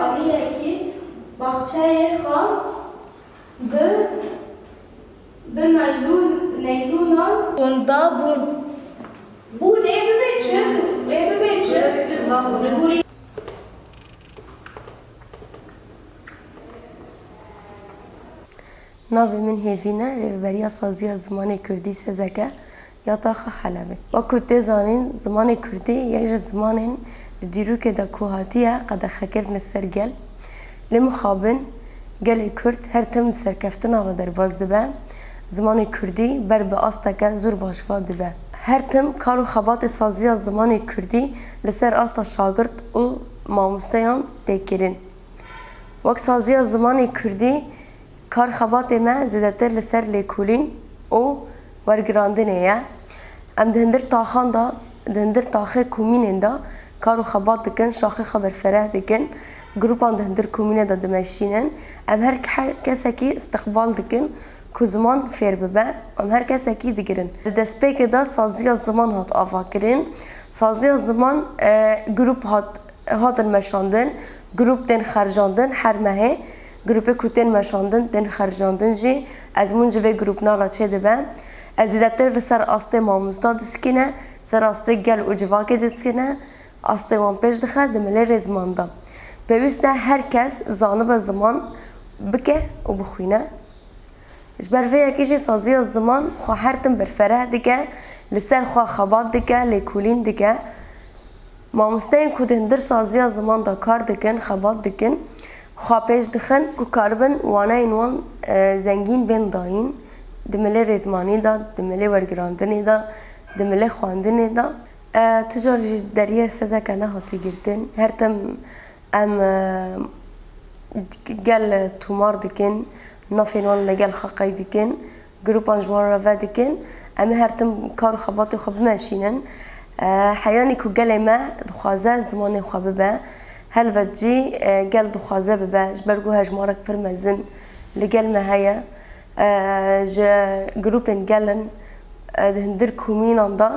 Aliyekî baxçeyê xwe bi bi naylûnan hondabûn. Bû lê bibe çirk û wê bibe çirk. Navê min Hêvîn e, Rêveberiya Saziya Zimanê Kurdî, Sezeke, ya Taxa Helebê. Wek ku tê zanîn zimanê kurdî yek ji zimanên di dîrokê de ku hatiye qedexekirine ser gel. Lê mixabin gelê kurd her tim di serkeftina ve derbas dibe, zimanê kurdî ber bi asteke zûr baş va dibe. Her tim kar û xebatê saziya zimanê kurdî li ser asta şagirt û mamosteyan tê kirin. Wek saziya zimanê kurdî Karxebatê me zêdetir li ser lêkolîn û wergirandinê ye. Em di hindir taxan de, di hindir taxê komînên de kar û xebat dikin, şaxê xwe berfereh dikin, grûpan di hindir komînê de dimeşînin. Em her her kesekî îstiqbal dikin ku ziman fêr bibe. Em her kesekî digirin. Di destpêkê de saziya ziman hat avakirin. Saziya ziman grûp hat hatin meşandin, grûp tên xercandin her mehê. Grûpê ku tên meşandin, tên xercandin jî ezmûn ji vê grûpnala çê dibe. Ez zêdetir li ser astê mamosta diskîne, ser astê gel û civakê diskîne, astê wan pêş dixe di milêrê ziman de. Pêwîst ne her kes zanibe ziman bike û bixwîne. Ji ber vê yekê jî saziya ziman xwe her tim berfereh dike, li ser xwe xebat dike, lêkolîn dike. Mamosteyên ku di hindirsaziya ziman de kar dikin, xebat dikin, xwe pêş dixin ku karibin waneyên wan zengîn bên dayîn di milê rêzmanî de, di milê wergirandinê de, di milê xwendinê de. Tu car jî deriyê sezeke nehatiye girtin. Her tim em gel tomar dikin, nafên wan li gel xaqeyî dikin Grûpan ji wan re vedikin em ê her tim kar û xebatên xwe bimeşînin. Heyanî ku gelê me dixwaze zimanê xwe bibe, helbet jî gel dixwaze bibe ji ber ku hejmarek pir mezin li gel me heye. Ji grûpên gel in di hundir komînan de.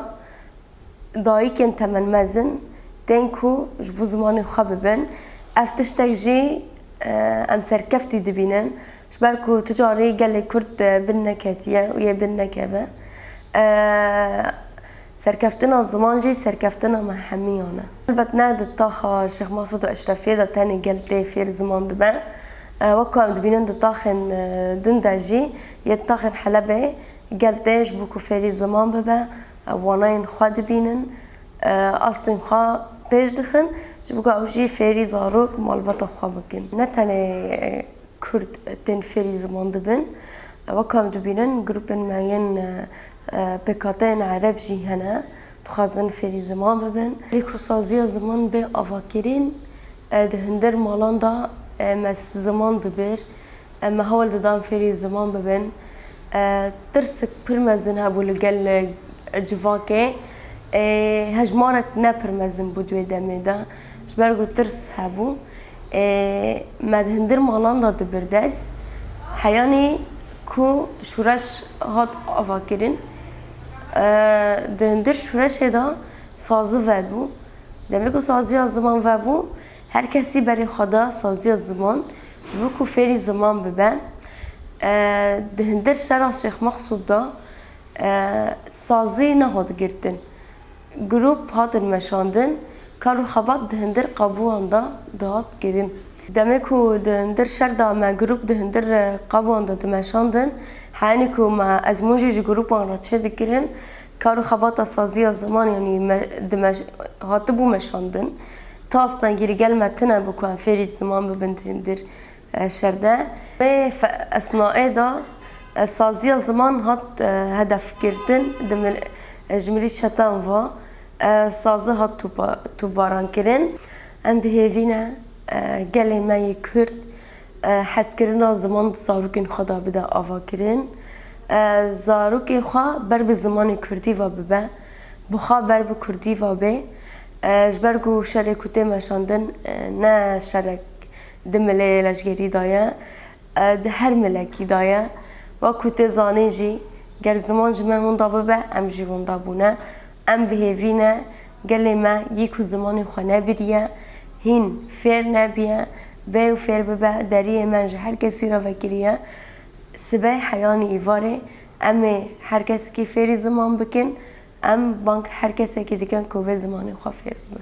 Dayikên temenmezin tên ku ji bo zimanê xwe bibin, ev tiştek jî em serkeftî dibînin ji ber ku tu carî gelê Kurd bin neketiye û yê bin nekeve. Serkeftina ziman jî serkeftina me hemiyan e. Helbet ne di taxa Şêx Masûd û Eşrefiyê de tenê gel tê fêr ziman dibe. Wek ku em dibînin di taxên din de jî yê di taxên Helebê gel tê ji bo ku fêrî ziman bibe Ew wanayên xwe dibînin, astên xwe pêş dixin ji bo ku ew jî fêrî zarok malbata xwe bikin. Ne tenê Kurd tên fêrî ziman dibin, weka em dibînin grûpên me yên pêkhateyên Ereb jî hene, dixwazin fêrî ziman bibin. Lîxsaziya ziman bê avakirîn, di hindir malan de me ziman dibir. me hewl didan fêrî ziman bibin. Tirsik pir mezin hebû li gel civakê. Ê hejmarek ne pir mezin bû di wê demê de. Ji ber ku tirs hebû. Ê me di hindir malan de dibir ders. Heyanî ku şûreş hat avakirin. Di hindir şûreşê de sazi vebû. Demê ku saziya ziman vebû. Her kesî berê xwe da saziya ziman ji bo ku fêrî ziman bibe. Di hindir şera Şêx Mexsûd de sazî nehot girtin. Grûp hatin meşandin. Kar û xebat di hindir qabûan de dihat kirin. Demê ku di hindir şer de me grûp di hindir qabûan de dimeşandin, heyînî ku me ezmûn jî ji grûpan re çêdikirin, Kar û xebata saziya ziman yanî me di me hatibû meşandin. Tas dengî li gel me tune bû ku em fêrî ziman bibin di hindir şerde. Vê esnaê de saziya ziman hat hedefgirtin di mir ji mirî çetan ve sazi hat topa toparankirin. Em bihêvî ne gelê me yê Kurd Hezkirina ziman di zarokên xwe de bide avakirin. Zarokê xwe ber bi zimanê kurdî ve bibe. Bi xwe ber bi kurdî ve bê. Ji ber ku şerê ku tê meşandin ne şerek di mileyê leşgerî de ye. Di her milekî de ye. Wek ku tê zanîn jî ger ziman ji me hûnda bibe em jî hûnda bûne. Em bihêvî ne. Gelê me yê ku zimanê xwe nebiriye, hîn fêr nebiye, bê û fêr bibe, deriyê me ji her kesî re vekirî ye. Sibey heyanî îvarê em ê her kesekî fêrî ziman bikin, em bang her kesekî dikin ku bê zimanê xwe fêr bibe.